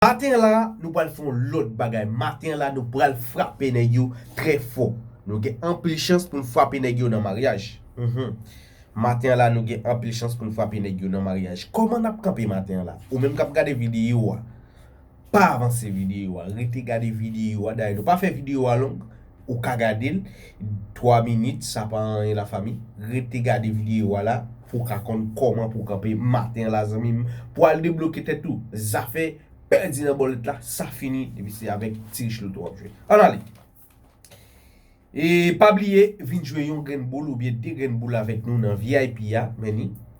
Maten an la nou pral fè yon lòt bagay maten an la nou pral frape nèg yo trè fò nou gen anpil chans pou n frape nèg yo nan maryaj humm maten an la nou gen anpil chans pou n frape nèg yo nan maryaj kòman nap kanpe maten an la ou menm kap gade videyo a pa avanse videyo a rete gade videyo a dayè nou pa fè videyo a long Ou ka gadel 3 minit sa pa anyen la fami rete gade video a la pou ka konn koman pou kanpe maten la zanmim pou al debloke tèt ou zafè pèdi nan bòlèt la sa fini depi se avèk ti rich loto wap jwe an ale e pa bliye vin jwe yon grenn boul oubyen 2 grenn boul avèk nou nan vip a meni.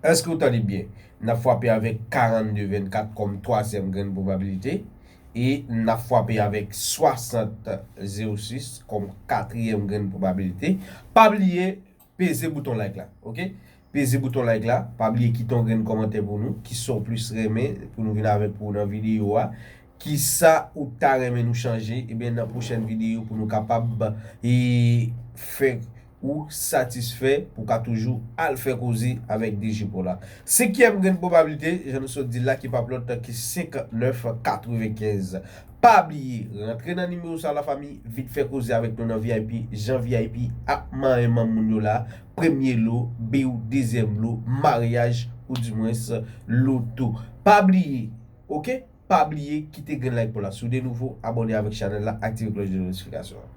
Èske ou tande byen? N ap fwape avèk 42 24 kòm twazyèm grenn pwobabilite e n ap fwape avèk 60 06 kòm katriyèm grenn pwobabilite. Pa bliye peze bouton like la ok peze bouton like la pa bliye kite yon grenn kòmantè pou nou kisa ou plis renmen pou nou vin avèk pou ou nan videyo a Kisa ou ta renmen nou chanje ebyen nan pwochèn videyo pou nou kapab fè ou satisfè pou ka toujou al fè koze avèk DG Paul la. Senkyèm grenn pwobablite jan nou sot dil la ki pap lòt ke 59 95. Pa bliye rantre nan nimewo sa la fanmi vin fè koze avèk nou nan vip jan vip ap manyen manm moun yo la premye lo biw dezyèm lo maryaj ou dimwens loto. Pa bliye ok. pa bliye kite grenn like pou la soude nouvo abòne avèk chanèl la aktive klòch de notifikasyon an.